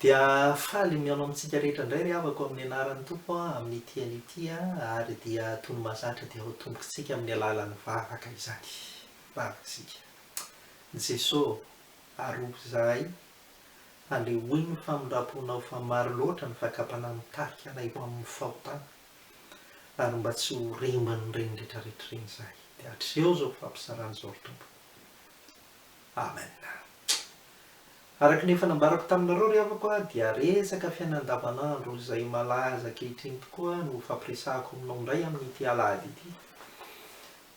Dia faly mihaona amintsika rehetra indray ry havako amin'ny anaran'ny Tompo amin'ity anio ity ary dia toy ny mahazatra dia ho tombontsika amin'ny alalan'ny vavaka izany vavaka isika. Jeso ah arovy izahay andehoy ny famindramponao fa maro loatra ny fakam-panahy mitarika anay ho amin'ny fahotana ary mba tsy ho remban'ireny retraretra ireny izahay dia atreho izao fampizarana izao ry Tompo. Amen! Araka ny efa nambarako taminareo ry havako a, dia resaka fiainana andavanandro izay malaza ankehitriny tokoa no hofampiresahako aminao indray amin'ity alahady ity.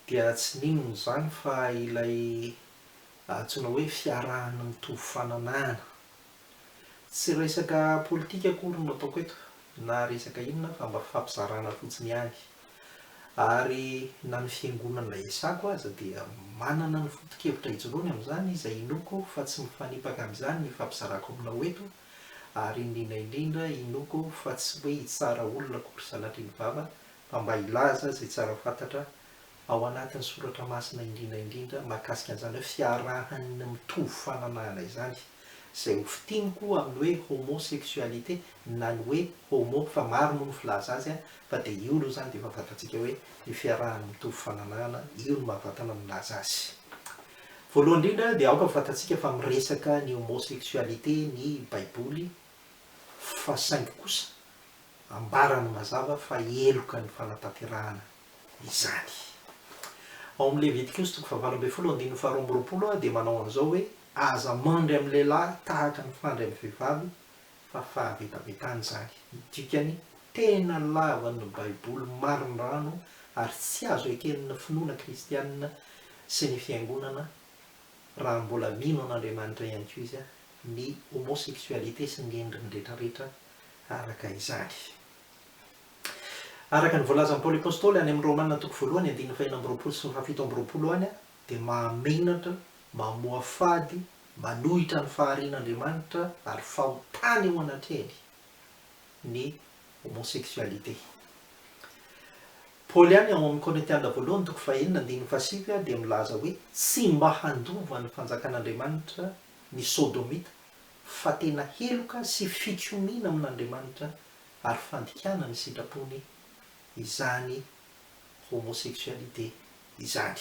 Dia tsy n'inona izany fa ilay antsoina hoe fiarahana mitovy fananahana. Tsy resaka politika akory no ataoko eto na resaka inona fa mba fampizarana fotsiny ihany. Ary na ny fiangonana iasako aza dia manana ny foto-kevitra ijoroany amin'izany izay inoako fa tsy mifanipaka amin'izany ny fampizarako aminao eto ary indrindra indrindra inoako fa tsy hoe hitsara olona akory sanatria ny vava fa mba hilaza izay tsara fantatra ao anatin'ny soratra masina indrindra indrindra mahakasika an'izany hoe fiarahan'ny mitovy fananahana izany. izay ho fitiny koa amin'ny hoe homosexualité na ny hoe homo fa maro moa ny filaza azy a, fa dia io aloha izany dia efa fantatsika hoe ny fiarahany mitovy fananahana, io no mahavatana milaza azy. Voalohany indrindra dia aoka fantatsika fa miresaka ny homosexualité ny baiboly fa saingy kosa ambarany mazava fa heloka ny fanatanterahana izany. Ao amin'ny Levitikosy toko fahavalo ambin'ny folo andininy faharoa amby roapolo dia manao an'izao hoe. Aza mandry amin'ny lehilahy tahaka ny fandry amin'ny vehivavy fa fahavetavetana izany. Ny dikany, tena lavan'ny Baiboly marindrano ary tsy azo eken'ny finoana kristiana sy ny Fiangonana, raha mbola mino an'Andriamanitra ihany koa izy, ny homosexualité sy ny endriny rehetrarehetra araka izany. Araka ny voalazan'i Paoly Apostoly any amin'ny Romana toko voalohany andininy fahenina amby roapolo sy ny fahafito amby roapolo any, dia mahamenatra, mamoafady, manohitra ny faharian'Andriamanitra ary fahotana eo anatrehany ny homosexualité. Paoly ihany ao amin'ny Korintiana voalohany toko fahenina andininy fahasivy dia milaza hoe tsy mba handova ny fanjakan'Andriamanitra ny sodomita fa tena heloka sy fikomiana amin'Andriamanitra ary fandikana ny sitrapony izany homosexualité izany.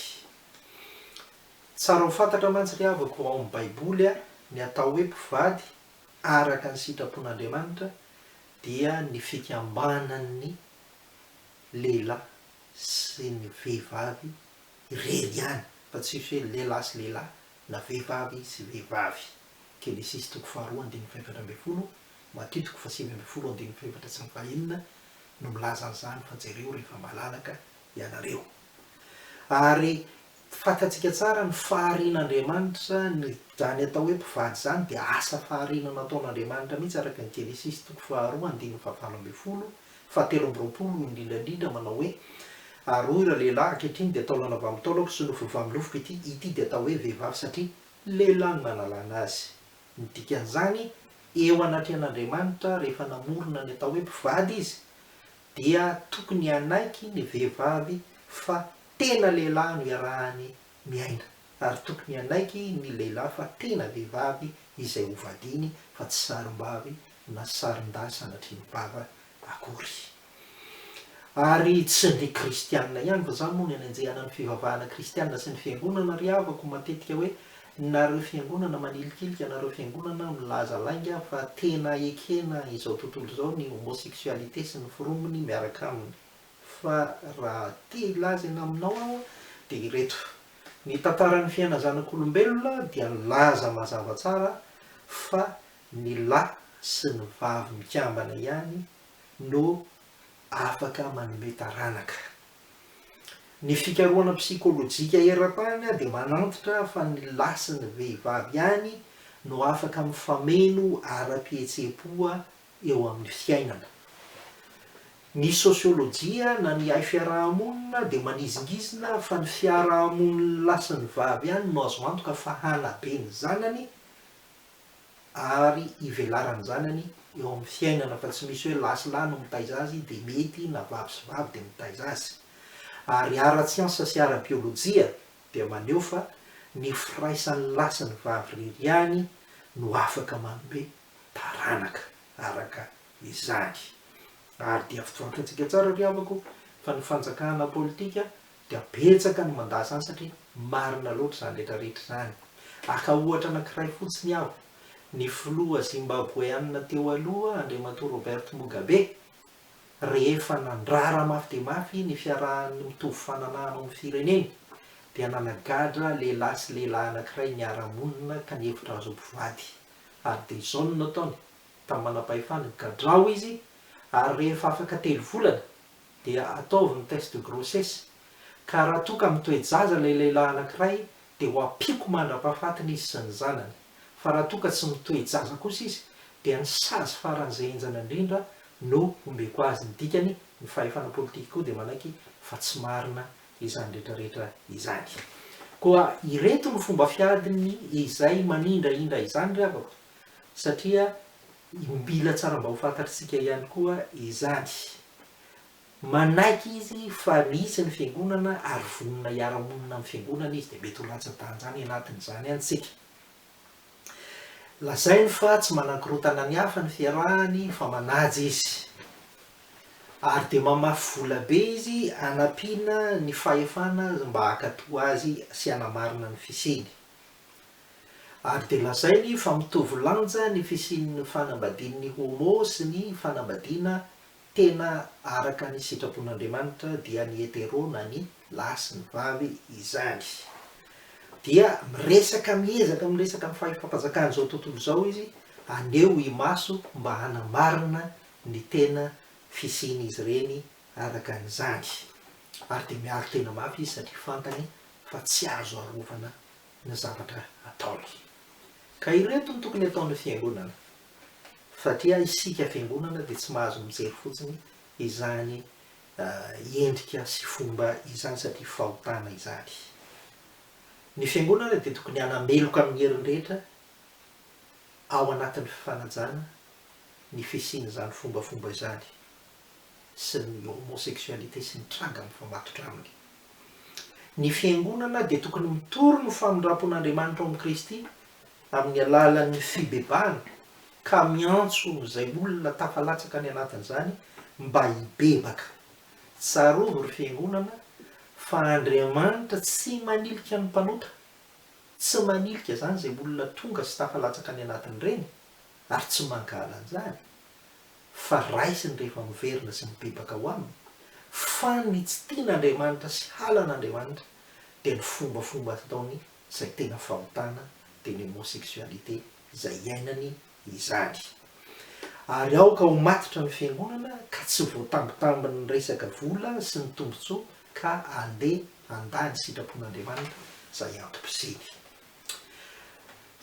Tsara ho fantatra mantsy ry havako ao amin'ny baiboly ny atao hoe mpivady araka ny sitrapon'Andriamanitra dia ny fikambanan'ny lehilahy sy ny vehivavy irery ihany fa tsisy hoe lehilahy sy lehilahy na vehivavy sy vehivavy. Genesisy toko faharoa andininy fahefatra ambin'ny folo, Matio toko fahasivy ambin'ny folo andininy fahefatra sy ny fahenina no milaza an'izany fa jereo rehefa malalaka ianareo. Ary fantatsika tsara ny faharian'Andriamanitra, ny izany atao hoe mpivady izany dia asa fahariana nataon'Andriamanitra mihitsy araka ny Genesisy toko faharoa andininy fahavalo ambin'ny folo, fahatelo amby roapolo no indrindra indrindra manao hoe, Ary hoy ireo lehilahy, ankehitriny dia taolana valo taolako sy nofo valo nofoko ity, ity dia atao hoe vehivavy satria Lehilahy no nanalana azy. Ny dikan'izany, eo anatrehan'Andriamanitra rehefa namorona ny atao hoe mpivady Izy, dia tokony hanaiky ny vehivavy fa tena lehilahy no iarahany miaina, ary tokony hanaiky ny lehilahy fa tena vehivavy izay hovadiany fa tsy sarimbavy na sarindahy sanatria ny vava akory. Ary tsy ny kristiana ihany fa zany moa no anenjehana ny fivavahana kristiana sy ny fiangonana ry havako matetika hoe nareo fiangonana manilikilika nareo fiangonana milaza lainga fa tena ekena izao tontolo izao ny homosexualité sy ny forombony miaraka aminy fa raha te hilaza eny aminao aho dia ireto ny tantaran'ny fiaina zanak'olombelona dia nilaza mazava tsara fa ny lahy sy ny vavy mikambana ihany no afaka manome taranaka. Ny fikarohana psikolojika eran-tany dia manantitra fa ny lahy sy ny vehivavy ihany no afaka mifameno ara-pihetseham-po eo amin'ny fiainana. Ny sosiolojia na ny haifiaraha-monina dia manizingizina fa ny fiaraha-monin'ny lahy sy ny vavy ihany no azo antoka fa hanabe ny zanany ary ivelarany zanany eo amin'ny fiainana fa tsy misy hoe lahy sy lahy no mitaiza azy dia mety na vavy sy vavy dia mitaiza azy. Ary ara-tsiansa sy ara-biolojia dia maneho fa ny firaisan'ny lahy sy ny vavy irery ihany no afaka manome taranaka araka izany. Ary dia fantatsika tsara ry havako fa ny fanjakana politika Dia betsaka ny mandà izany satria marina loatra izany rehetra rehetra izany. Haka ohatra anankiray fotsiny aho, ny filoha Zimbaboeana teo aloha Andriamatoa Robert Mugabe, rehefa nandrara mafy dia mafy ny fiarahan'ny mitovy fananaha hanao ny fireneny, dia nanagadra lehilahy sy lehilahy anankiray niara-monina ka nihevitra azy ho mpivady. Ary dia izao no nataony, tamin'ny manam-pahefana, gadrao izy, ary rehefa afaka telo volana, dia ataovy ny test de grossesse ka raha toa ka mitoe-jaza ilay lehilahy anankiray dia ho ampiako mandra-pahafatiny izy sy ny zanany, fa raha toa ka tsy mitoe-jaza kosa izy dia ny sazy faran'izay henjana indrindra no hombeko azy, ny dikany ny fahefana politikiko dia manaiky fa tsy marina izany rehetrarehetra izany. Koa ireto ny fomba fiadiny izay manindrahindra izany ry havako, satria Mila tsara mba ho fantatr'isika ihany koa izany. Manaiky izy fa misy ny fiangonana ary vonona hiara-monina amin'ny fiangonana izy dia mety ho latsa-danja any anatin'izany any isika. Lazainy fa tsy manakorontana ny hafa ny fiarahany fa manaja izy. Ary dia mamafy vola be izy hanampiana ny fahefana mba hankatò azy sy hanamarina ny fisiany. ary dia lazainy fa mitovy lanja ny fisian'ny fanambadian'ny homo sy ny fanambadiana tena araka ny sitrapon'Andriamanitra dia ny hetero na ny lahy sy ny vavy izany. Dia miresaka miezaka miresaka ny fahefam-panjakan'izao tontolo izao izy haneho imaso mba hanamarina ny tena fisian'izy ireny araka an'izany ary dia miaro tena mafy izy satria fantany fa tsy azo arovana ny zavatra ataony. Ka ireto no tokony ataon'ny Fiangonana. Fa dia isika Fiangonana dia tsy mahazo mijery fotsiny izany endrika sy fomba izany satria fahotana izany. Ny Fiangonana dia tokony hanameloka amin'ny heriny rehetra ao anatin'ny fifanajana ny fisian'izany fombafomba izany. sy ny homosexualité sy ny tranga mifamatotra aminy. Ny Fiangonana dia tokony mitory ny famindrampon'Andriamanitra ao amin'i Kristy amin'ny alalan'ny fibebahana ka miantso izay olona tafalatsaka any anatin'izany mba hibebaka. Tsarovy ry Fiangonana fa Andriamanitra tsy manilika ny mpanota, tsy manilika izany izay olona tonga sy tafalatsaka any anatin'ireny ary tsy mangala an'izany fa raisiny rehefa miverina sy mibebaka ho aminy, fa ny tsy tian' Andriamanitra sy halan' Andriamanitra dia ny fombafomba ataony izay tena fahotana dia ny homosexualité izay hiainany izany. Ary aoka ho matotra ny fiangonana ka tsy voatambitambin' ny resaka vola sy ny tombotsoa ka andeha handà ny sitrapon' Andriamanitra izay antom-pisiany.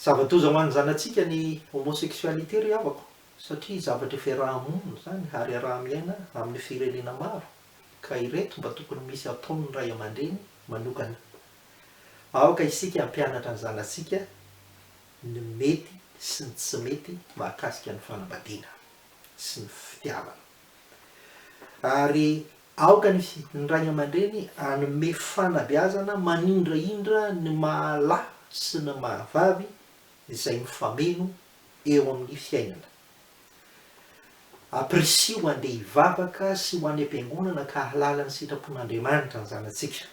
Zava-doza ho an' ny zanatsika ny homosexualité ry havako. satria zavatra fiaraha-monina izany ary iaraha-miaina amin'ny firenena maro ka ireto mba tokony misy ataon'ny ray aman-dreny manokana. Aoka isika hampianatra ny zanatsika ny mety sy ny tsy mety mahakasika ny fanambadiana sy ny fitiavana. Ary aoka ny ny ray aman-dreny hanome fanabeazana manindrahindra ny maha lahy sy ny maha vavy izay mifameno eo amin'ny fiainana. Ampirisiho ho andeha hivavaka sy ho any am-piangonana ka hahalala ny sitrapon'Andriamanitra ny zanatsika.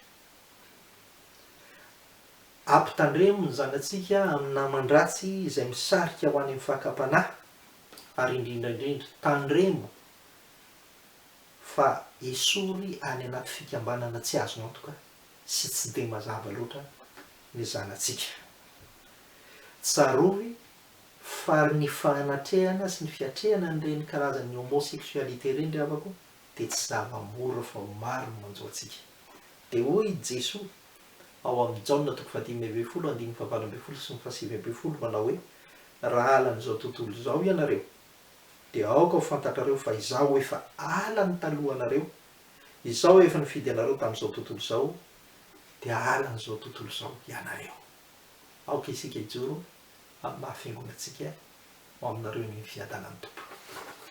Ampitandremo ny zanatsika amin'ny naman-dratsy izay misarika ho any amin'ny fakam-panahy ary indrindra indrindra tandremo fa esory any anaty fikambanana tsy azo antoka sy tsy dia mazava loatra ny zanatsika. Tsarovy fa ary ny fahanatrehana sy ny fiatrehana an'ireny karazan'ny homosexualité ireny ry havako dia tsy zava-mora fa maro ny manjo antsika. Dia hoy i Jesoa ao amin'ny Jaona toko fahadimy ambin'ny folo andininy fahavalo ambin'ny folo sy ny fahasivy ambin'ny folo manao hoe, Raha halan'izao tontolo izao ianareo, dia aoka ho fantatrareo fa Izaho efa halany talohanareo, Izaho efa nifidy anareo tamin'izao tontolo izao, dia halan'izao tontolo izao ianareo. Aoka isika hijoro amin'ny maha fiangonantsika ho aminareo ny fiadanan'ny Tompo.